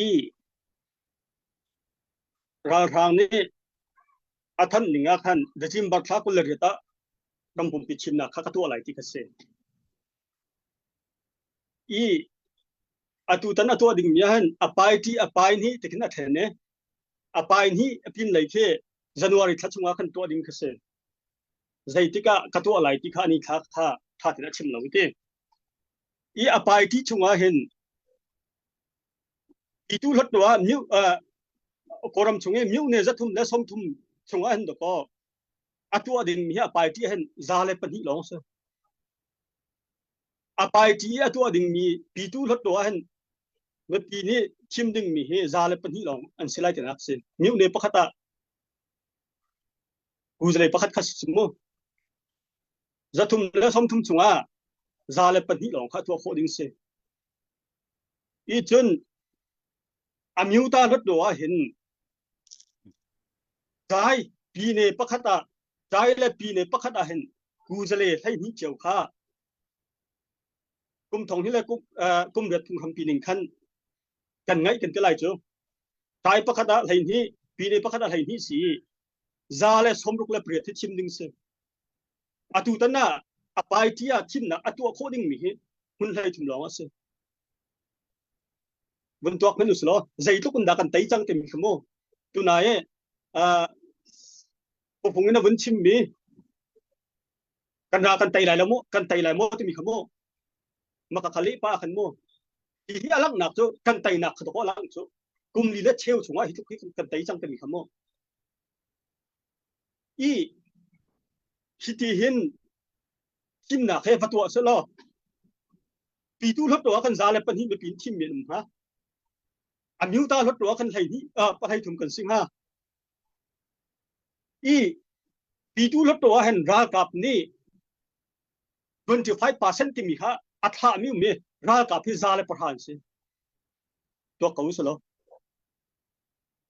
i ralhrang nih a thanh ning ah khan Dajim Bartla kul le riat ah ram pumpi chimnak kha ka tuah lai ti ka si i atu tan a tuah ding mi ahhin a pai ti a pai ni ti khin a then e a pai ni a pin lei khi january thla chunga khan tuah ding ka si zeitik ah ka tuah lai ti kha ni thla kha tha tin a chim lo ti i a pai ti chunga hin Itu hlat tu ah miu Kawram chung i miu ne zathum le somthum chung ah hen do ko. Atu ah din mi hi a pai ti hen za le pahnih lawng si. A pai ti i atu ah ding mi pitu hlat tu ah hen nupi nih thim ding mi hi za le pahnih lawng an si lai tinak si. Miu ne pakhat ah kuzalei pakhat khat si mu. Zathum le somthum chung ah za le pahnih lawng kha tuah khawh ding si. i cun a meuta lut lo ah hin dai pine pakhat ah dai le pine pakhat ah hin kuzale hlei hni cheu kha kum thong hi le kum kum riat phung ham pining khan kan ngai kan te lai chu dai pakhat ah hlei hni pine pakhat ah hlei hni si za le somruk le priat hi thim ding si Atutan ah a party ah thimnak a tuah khawh dingmi hi hmun hleithum lawng a si. Vun tuak men usih law zeitluk in dah kan tei cang timi kha mu. Tunai eh pupung in a vun chimmi kan ra kan tei lai lo mu kan tei lai mu timi kha mu maka khali pa khan mu hi hi alang nak chu kan tei nak kha to lang chu kum li le cheu chungah hi tluk hi kan tei cang timi kha mu i hiti hin thimnak he va tuah seh law pitu hlot ruah kan za le pahnih mipi in thim men um hnga a miu ta hlot ruah kan hlei hnih pahlei thum kan sing ha i pitu hlot ruah hen ralkap nih 25% timi kha a thla mi mi ralkap hi za le pahra an si tuak ko selo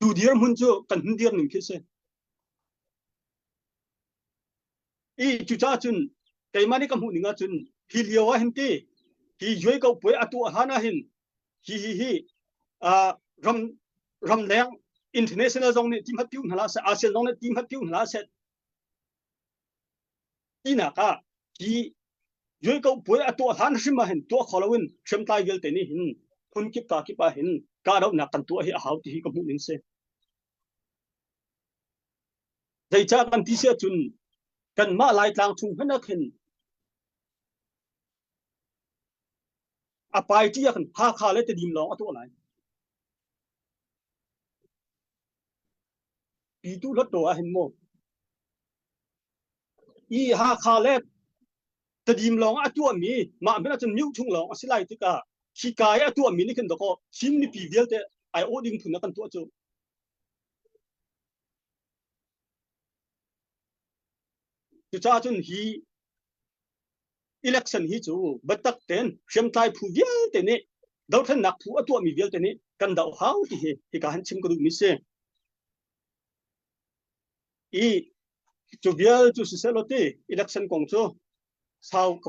Tu dirhmun cu kan hun dir ning khi si. I cuca cun keimah nih ka hmuh ning ahcun hi lio ah hin ti hi yuai ko puai atu han ah hin hi hi hi uh, ram ramleng international zong nih ti hmat piu hna la se ASEAN zong nih ti hmat piu hna la se tinak ah hi yualko puai a tuah hlan hrim ah hin tuah kho lo in hrimtlai vialte nih hin phun kip ka kip ah hin kahdohnak kan tuah hi a hau ti hi ka hmuh ning si zeicah kan ti si ahcun kanmah laitlang chung hmenak hin a pai ti ah kan Hakha le Tedim lawng a tuah lai Pitu hlatṭaw ah hin maw? I Hakha le Tadim lawng ah a tuahmi mah hmanh ahcun mioh ṭhung lawng a si lai tikah hika i a tuahmi nih khin dawkaw Chin mipi vialte ai awh ding phun ah kan tuah cu. Cucaah cun hi election hi cu batak ten hriamtlai phu vialte nih dothlennak phu a tuahmi vialte nih kan doh hau ti hi hika han chim ka duh mi si i cu vial cu si selo ti election kong cu sau ka